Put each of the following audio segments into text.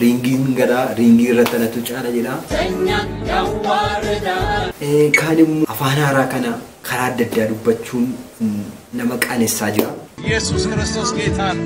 Riingiin gadhaa riingii irratti dhalatu caala jedha. Keenyan Yawwaarredaa. Kaan immoo afaan haaraa kana karaa adda addaa dubbachuun nama qaanessaa jira. Yesuus Kiristoos Geetaa dha.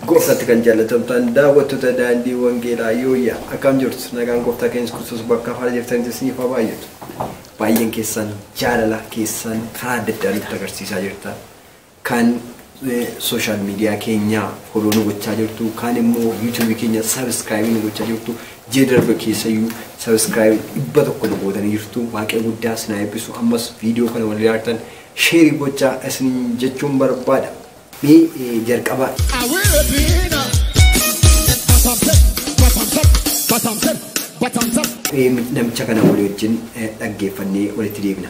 Gooftatti kan jaallatamtaan daawwattoota Daandii Wangeelaa Yooyyaa akkaam jirtu? Nagaan Gooftaa keenya Yesuus Kiristoos bakka haala jirtanitti isiniif haa baay'atu. Baay'een keessan jaalala keessan karaa adda addaa nutti agarsiisaa jirtan. Kan social media keenya follow nu gochaa jirtu, kaan immoo YouTube keenya subscribe nu gochaa jirtu, ji'a darbe keessayyuu subscribe dhibba tokko nu gootanii jirtu. Waaqayyo guddaa isin haa eebbisu. Ammas viidiyoo kana wal ilaaltan sheerii gochaa isin jechuun barbaada. Mee eh, jalqaba eh, namicha kana walii wajjin eh, dhaggeeffannee walitti deebina.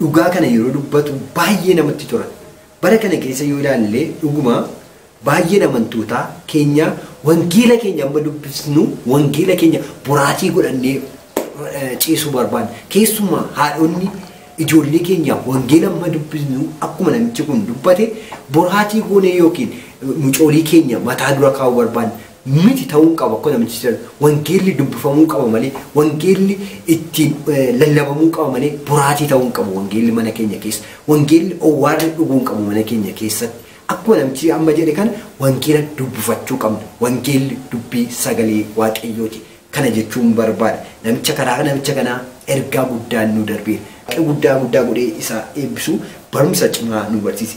dhugaa kana yeroo dubbatu baay'ee namatti tola. Bara kana keessa yoo ilaalle dhuguma baay'een amantootaa keenyaa wangeela keenya amma dubbisnu wangeela keenya boraatii godhannee ciisuu barbaanna. Keessumaa haadhonni ijoollee keenyaaf wangeela amma dubbisnu akkuma namichi kun dubbate boraatii goonee yookiin mucoolii keenya mataa dura kaa'uu barbaanna. miti ta'uu qaba akka namichi jedhu wangeelli dubbifamuu qaba malee wangeelli ittiin lallabamuu qaba malee boraatii ta'uu hin qabu wangeelli mana keenya keessa wangeelli owwaarri dhuguu hin qabu mana keenya keessatti akkuma namichi amma jedhe kana wangeela dubbifachuu qabna wangeelli dubbii sagalee waaqayyooti kana jechuun barbaada namicha karaa namicha kanaa ergaa guddaan nu darbeera guddaa guddaa godhee isaa eebbisu barumsa cimaa nu barsiise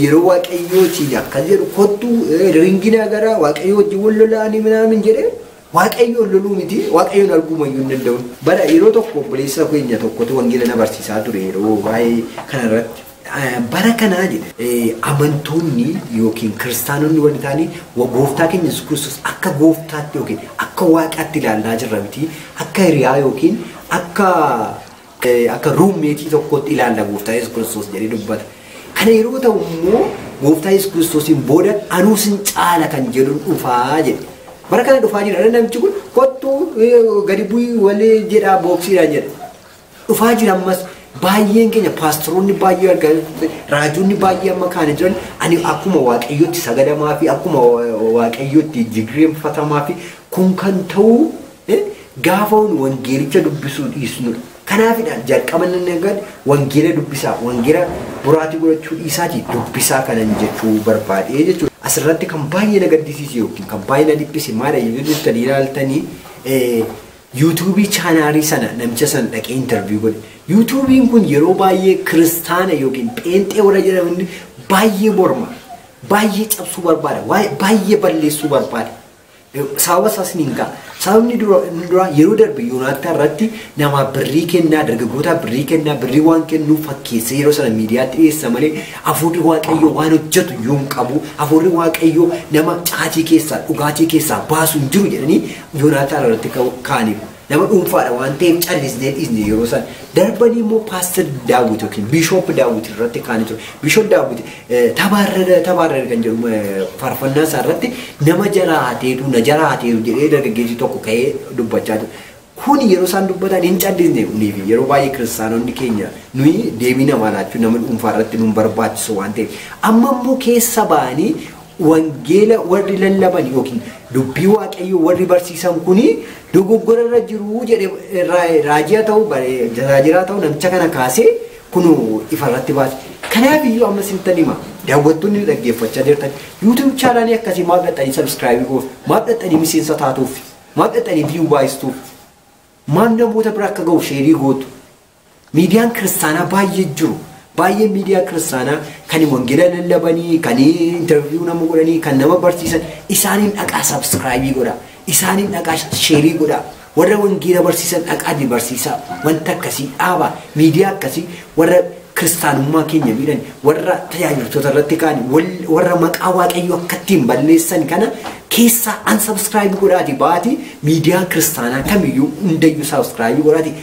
Yeroo waaqayyoo siin akkas jedhu kottu ringina gara waaqayyoo wajjin wal lolaanii minaamin jedhee waaqayyoo loluu miti waaqayyoon arguuma iyyuu hin danda'u. Bara yeroo tokko obboleessa keenya tokkotu wangeela na barsiisaa ture yeroo waa'ee kana irratti. Bara kanaa jedhe amantoonni yookiin kiristaanonni warri taanii gooftaa keenya Yesuus Kiristoos akka gooftaatti yookiin akka waaqaatti ilaallaa jirra miti akka hiriyaa yookiin akka Akka ruummeetii tokkootti ilaalla gooftaa Yesuus Kiristoos jedhee dubbata. Kana yeroo ta'u immoo gooftaa Yesuus Kiristoosiin booda anuu sin caala kan jedhu dhufaa jedhe. Bara kana dhufaa jira namichi kun kottu gadi bu'ii walii jedhaa booksiidhaan jedha. Dhufaa jira ammas baay'een keenya paasteroonni baay'ee argaa raajonni baay'ee amma kaana jiran ani akkuma waaqayyootti sagadamaa fi akkuma waaqayyootti jigireenfatamaa fi kun kan ta'uu Gaafa nu wangeelicha dubbisuu dhiisnudha. Kanaafidha jalqaba inni eegalu wangeela dubbisaa, wangeela boraatii godhachuu dhiisaatii dubbisaa kanan jechuu barbaadee jechuudha. Asirratti kan baay'ee na gaddisiise yookiin kan baay'ee na dhiphise maadha yoo jettanii ilaaltanii yuutuubii chaanaalii sana namicha sana dhaqee intarviyu godhe. Yuutuubiin kun yeroo baay'ee kiristaana yookiin pheenxee warra jedhaman baay'ee morma. Baay'ee cabsuu barbaada. Baay'ee balleessuu barbaada. Sababa isaas ni hingaa. Sababni dura inni duraa yeroo darbe Yoonaattaa irratti namaa birrii kennaa dargaggootaa birrii kennaa birrii waan kennuu fakkeessee yeroo sana miidiyaatti dhiyeessa malee hafuurri waaqayyoo waan hojjetu iyyuu hin qabu. Hafuurri waaqayyoo nama caatii keessaa dhugaatii keessaa baasu hin jiru jedhanii Yoonaattaa irratti ka'u- ka'aniiru. Nama dhuunfaadha waan ta'eef callisnee dhiisne yeroo san darbanii immoo paaster daawwiti yookiin biishoop daawwiti irratti kaanii ture. Biishoop daawwiti tabaarrana tabaarrana kan jedhu eh, faarfannaa isaa irratti nama jara hateetu na jara hateetu jedhee dargaggeessi tokko ka'ee dubbachaa ture. Kun yeroo isaan dubbatan hin callisne kunii fi yeroo baay'ee kiristaanonni keenya nuyi deebii namaa laachuu nama dhuunfaa irratti nun barbaachisu waan ta'eef amma immoo keessa ba'anii Wangeela warri lallaban yookiin dubbii Waaqayyoo warri barsiisan kun dogoggora irra jiru jedhee raajii haa ta'u, tajaajiraa haa ta'u namicha kana kaasee kun ifa irratti baase. Kanaaf iyyuu amma isinittan hima daawwattoonni dhaggeeffachaa jirtan YouTube chaanaalii akkasii maaf dhaxxanii subscribe gootu? Maaf dhaxxanii miseensa taatuuf? Maaf dhaxxanii view baay'istuuf? Maaf namoota bira akka ga'u sheerii gootu? Miidiyaan kiristaanaa baay'ee jiru. Baay'ee miidiyaa kiristaanaa kan wangeela lallabanii, kan interview nama godhanii, kan nama barsiisan isaaniin dhaqaa subscribe godhaa. Isaaniin dhaqaa sheerii godhaa. Warra wangeela barsiisan dhaqaati barsiisaa. Wanta akkasii dhaabaa. Miidiyaa akkasii warra kiristaanummaa keenya miidhan, warra tajaajiltoota irratti ka'an, warra maqaa waaqayyoo akka ittiin balleessan kana keessaa unsubscribe godhaati baati miidiyaa kiristaanaa kamiyyuu hundayyuu subscribe godhaati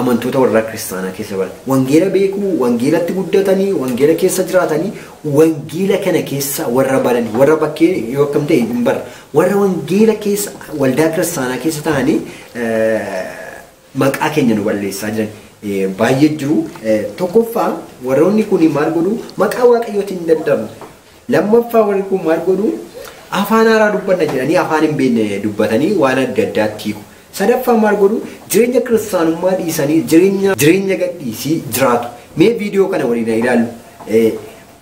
amantoota warra kiristaanaa keessa baran wangeela beekuu, wangeelatti guddatanii, wangeela keessa jiraatanii, wangeela kana keessa warra baranii, warra bakkee yoo akkam ta'e hin barra. Warra wangeela keessa waldaa kiristaanaa keessa ta'anii maqaa keenya nu balleessaa jiran baay'ee jiru. Tokkoffaa warroonni kun maal godhu maqaa waaqayyootiin daddabu. Lammaffaa warri kun maal godhu? Afaan haaraa dubbanna jedhanii afaan hin beekne dubbatanii waan adda addaatti hiiku. Sadaffaa maal godhu? Jireenya kiristaanummaa dhiisanii jireenya jireenya gadhiisii jiraatu. Mee viidiyoo kana waliin haa ilaallu. Eh,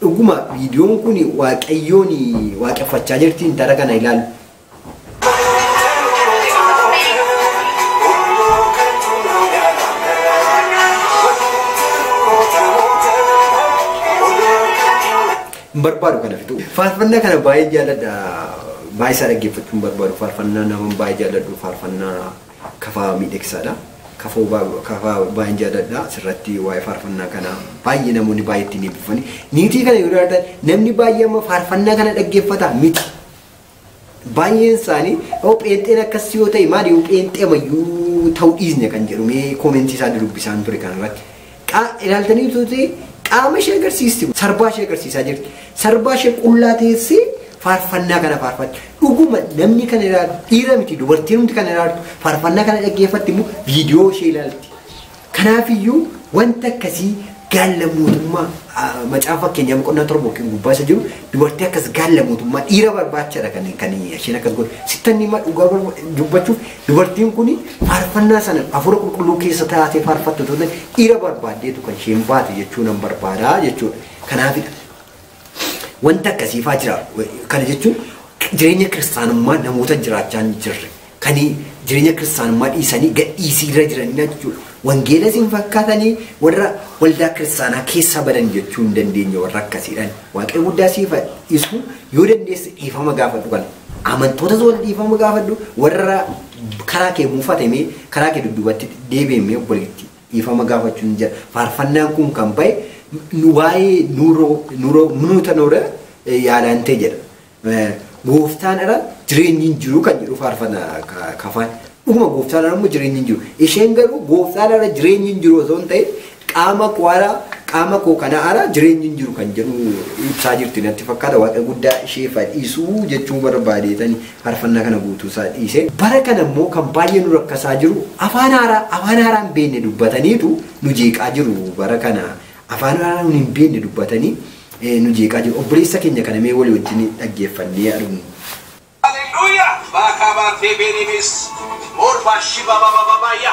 Dhuguma viidiyoon kun waaqayyoon waaqeffachaa jirti intala kana ilaalu. hin barbaadu kana fixuu. Faarfannaa kana baay'ee jaalladha. Baay'ee isaa dhaggeeffachuu hin barbaadu. Faarfannaa naman baay'ee jaalladhu. Faarfannaa kafaa miidhagsaadha. Kafoo baa- kafaa baay'een jaalladha. Asirratti waa'ee faarfannaa kana baay'ee namoonni baay'ee ittiin eebbifani. Niitii kana yoo ilaaltan namni baay'ee amma faarfannaa kana dhaggeeffata miti. Baay'een isaanii yoo pheenxeen akkas yoo ta'e maali yoo pheenxee mayyuu ta'uu dhiisne kan jedhu mee koomentii isaa dudubbisaan ture kan irratti. Ilaaltanii tuuti qaama ishee agarsiisti kun sarbaa ishee agarsiisaa jirti. Sarbaa ishee qullaa teessee faarfannaa kana faarfatti. Dhuguma namni kan ilaalu dhiira miti dubartiin hundi kan ilaaltu faarfannaa kana dhaggeeffatti immoo viidiyoo ishee ilaalti. Kanaafiyyuu wanti akkasii gaalla mootummaa macaafa fakkeenyaa boqonnaa torba yookiin gubbaa isa jiru dubartii akkas gaalla mootummaa dhiira barbaachadha kan kan isheen akkas godhe sittan hima dhugaa barba- dubbachuuf dubartiin kun faarfannaa sana hafuura qulqulluu keessa taatee faarfattu ta'uun dhiira barbaaddeetu kan isheen baate jechuu nan barbaada jechuudha kanaafidha. Wanta akkasiifaa jira. Kana jechuun jireenya kiristaanummaa namoota jiraachaa hin jirre. Kan jireenya kiristaanummaa dhiisanii gadhiisii irra jiranidha jechuudha. Wangeelas hin fakkaatanii warra waldaa kiristaanaa keessaa badan jechuu hin dandeenye warra akkasiidhaan. Waaqayyo guddaa siif dhiisu yoo dandeesse dhiifama gaafadhu kana. Amantootas wal dhiifama gaafadhu warra karaa kee muufatamee karaa kee dudduubatti deebi'ee obboleettii. Dhiifama gaafachuun jira. Faarfannaan kun kan ba'e nu waa'ee nuuroo nuuroo munuuta noora yaalaantee jedha. Gooftaan ala jireenyi hin jiru kan jedhu faarfana kafaan. Dhuguma gooftaan ala immoo jireenyi hin jiru. Isheen garuu gooftaan ala jireenyi hin jiru osoo hin ta'in qaama koo ala qaama koo kana ala jireenyi hin jiru kan jedhu ibsaa jirti natti fakkaata waaqa guddaa ishee fadhiisuu jechuu barbaadeetani faarfannaa kana guutuu isaa dhiise. Bara kana immoo kan baay'ee nu rakkasaa jiru afaan haaraa afaan haaraa hin beekne dubbataniitu nu jeeqaa jiru bara kana afaan haaraa nun hin beekne dubbatanii eh, nu jeeqaa jiru obboleessa keenya kana mee walii wajjin dhaggeeffannee haa dhumnu. Hallelujah! Baakabaa teebeeniinis moolbaa shibababababaya.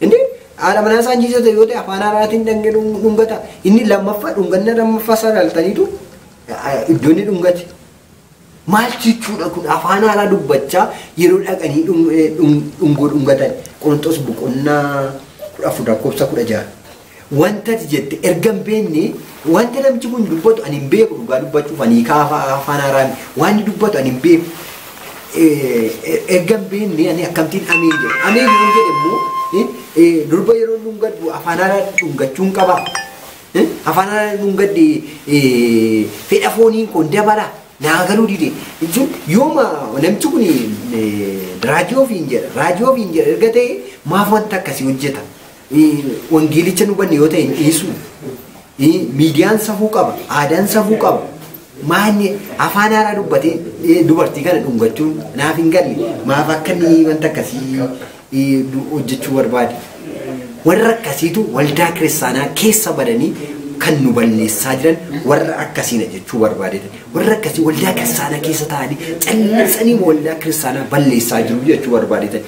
Inni haadha manaa isaa jiisota yoo ta'e afaan haaraatiin dhangee dhungata. Inni lammaffaa dhunganna lammaffaa isaa ilaaltaniitu iddoo inni dhungate. Maal jechuudha kun afaan haaraa dubbachaa yeroo dhaqanii dhungoo dhungatan. Qorontos boqonnaa kudha afur lakkoofsa kudha jaha. Wanta ati jette erga hin beekne wanta namichi kun dubbatu ani hin beeku dhugaa dubbachuuf ani hiikaa afaa- afaan haaraa miti. waan inni dubbatu ani hin beeku Eh, eh, erga hin beekne ani akkamtiin ameen jedhe ameen yoon jedhe immoo eh, eh, durba yeroo dhungadhu afaan haaraa dhungachuun qaba Eh, afaan haaraa dhungadhe eh, fedha fooniin kun dabala naa galuu dide jechuun yooma namichi kun eh, raajii ofiin jedha raajii ofiin jedha erga ta'e maaf wanta akkasii hojjeta Wangeelicha hin hubanne yoo ta'e hin dhiisu. Miidiyaan safuu qaba, aadaan safuu qaba. Maanni afaan haaraa dubbatee eh, dubartii kana dhungachuun naaf hin galle. Maaf akka inni wanta akkasii eh, du- hojjechuu barbaade. Warra akkasiitu waldaa kiristaanaa keessa badanii kan nu balleessaa jiran warra akkasiina jechuu barbaadedha. Warra akkasii waldaa kiristaanaa keessa taa'anii callisanii waldaa kiristaanaa balleessaa jiru jechuu barbaadedha.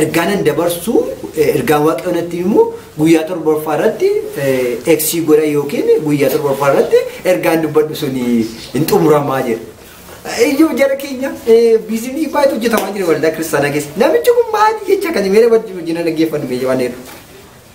ergaanan dabarsu ergaan waaqayyo natti himu guyyaa torbaffaa irratti eksii godha yookiin guyyaa torbaffaa irratti ergaan dubbadhu sun hin xumuramaa jedha. Iyyuu jara keenya biizinii baay'eetu hojjetamaa jira waldaa kiristaanaa keessa. Namichi kun maali jecha kan meera wajjin hojjina dhaggeeffannu meeshaa waan jedhu.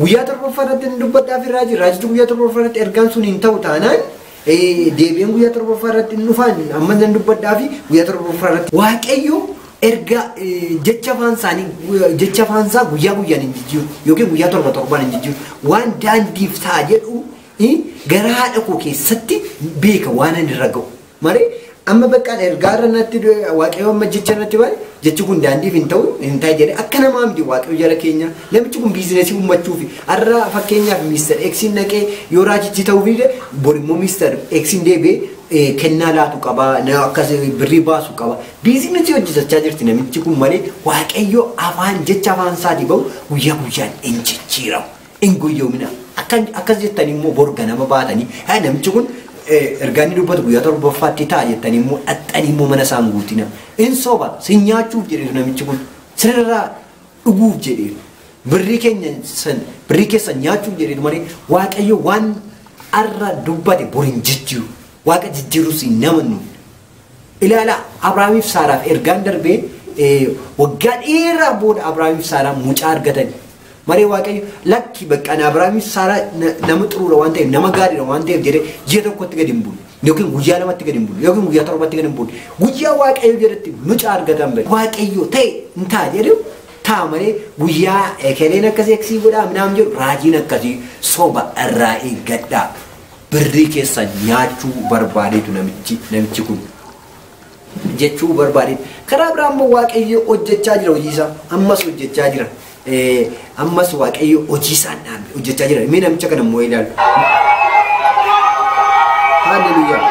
Guyyaa torbaffaa irratti inni dubbadhaa fi raajii raajichi guyyaa torbaffaa irratti ergaan sun hin ta'u taanaan eh, deebi'een guyyaa torbaffaa irratti hin dhufaan amma nan dubbadhaa fi guyyaa torbaffaa irratti waaqayyo erga eh, jecha afaan isaanii eh, jecha afaan isaa guyyaa guyyaan hin jijjiiru yookiin guyyaa torba torbaan hin jijjiiru waan daandiif ta'a jedhu eh, gara haadha koo keessatti beeka waan ani irra ga'u. Mare amma baqqaan ergaa irra natti du'e waaqayyo amma jecha natti ba'e jechi kun daandiif hin ta'u hin ta'e jedhe akka namaa miti waaqayyo jara keenya namichi kun biizinesii uummachuufi har'a fakkeenyaaf miistar eksiin naqee yoo raajichi ta'uu dide bor immoo miistar eksiin deebi'ee kennaa laatu qaba akkas birrii baasu qaba biizinesii hojjetachaa jirti namichi kun malee waaqayyo afaan jecha afaan isaatii ba'u guyyaa guyyaan hin jijjiiramu. Hin goyyoominaa. Akka akkas jettanii immoo bor ganama baatanii haa namichi kun ergaa inni dubbatu guyyaa torbaffaatti ta'a jettanii immoo dhaxxanii immoo mana isaan guutina. Hin soba si nyaachuuf jedheef namichi kun sirraa dhuguuf jedheef birrii keenya san birrii keessan nyaachuuf jedheetu malee waaqayyo waan har'a dubbate bor hin jijjiiru. Waaqa jijjiirus hin namannu. Ilaalaa, Abrahaamii fi Saaraaf ergaan darbee waggaa dheeraa booda Abrahaamii fi Saaraan mucaa argatani. Maree Waaqayyo lakki bakka ani Abrahaamii fi Saaraa nama xuruura waan ta'eef nama gaariidha waan ta'eef jedhee ji'a tokkotti gadi hin buune yookiin guyyaa lamatti gadi hin buune yookiin guyyaa torbatti gadi hin buune guyyaa Waaqayyo jedhetti mucaa argatan bari Waaqayyo ta'e hin ta'a jedhu ta'a malee guyyaa ekeleen akkasii akkasii godhaa minaam jedhu raajiin akkasii soba irraa eeggadhaa. Birrii keessan nyaachuu barbaadeetu namichi namichi kun jechuu barbaadeetu. Karaa biraa immoo Waaqayyo hojjechaa jira hojiisaa. Ammas hojjechaa jira. Ammas Waaqayyo hojiisaa hin dhaabne hojjechaa jira. Mee namicha kana immoo ilaalu. Haaleluyyaa.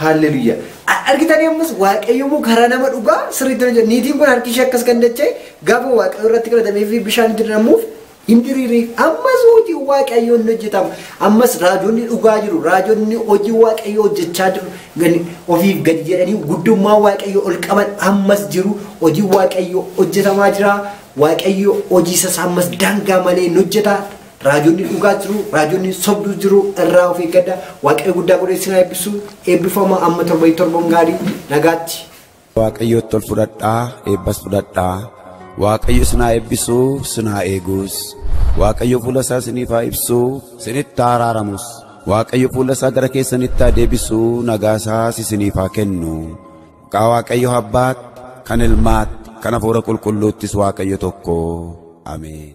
Haalleluyaa. Argitan yommus waaqayyoommoo karaa nama dhugaa sirriitti hojjeta. Niitiin kun harki ishee akkas kan dacha'e gaafa waaqayyo irratti kadhatamee fi bishaan itti diramuuf Hin diriiri. Ammas hojiin Waaqayyoo ni hojjetama. Ammas raajonni dhugaa jiru. Raajonni hojii Waaqayyoo hojjechaa jiru. Gadi- Ofiif gadi jedhanii guddummaa Waaqayyoo ol qaban ammas jiru. Hojiin Waaqayyoo hojjetamaa jira. Waaqayyo hojii isaas ammas daangaa malee hin hojjeta. Raajonni dhugaa jiru. Raajonni sobduu jiru. Irraa of eeggadha. Waaqayyo guddaa godhee isin haa eebbisu. Eebbifama amma torba torban gaarii nagaatti. Waaqayyootti ol fudhadhaa eebbas fudhadhaa. Waaqayyo isin haa eebbisu isin haa eegus. Waaqayyo fuula isaa isiniif haa ibsu isinitti haa araaramus. Waaqayyo fuula isaa gara keessanitti haa deebisu nagaa isaas isiniif haa kennu. Maqaa Waaqayyo abbaatti kan ilmaatti kan hafuura qulqulluuttis Waaqayyo tokko. Ameen.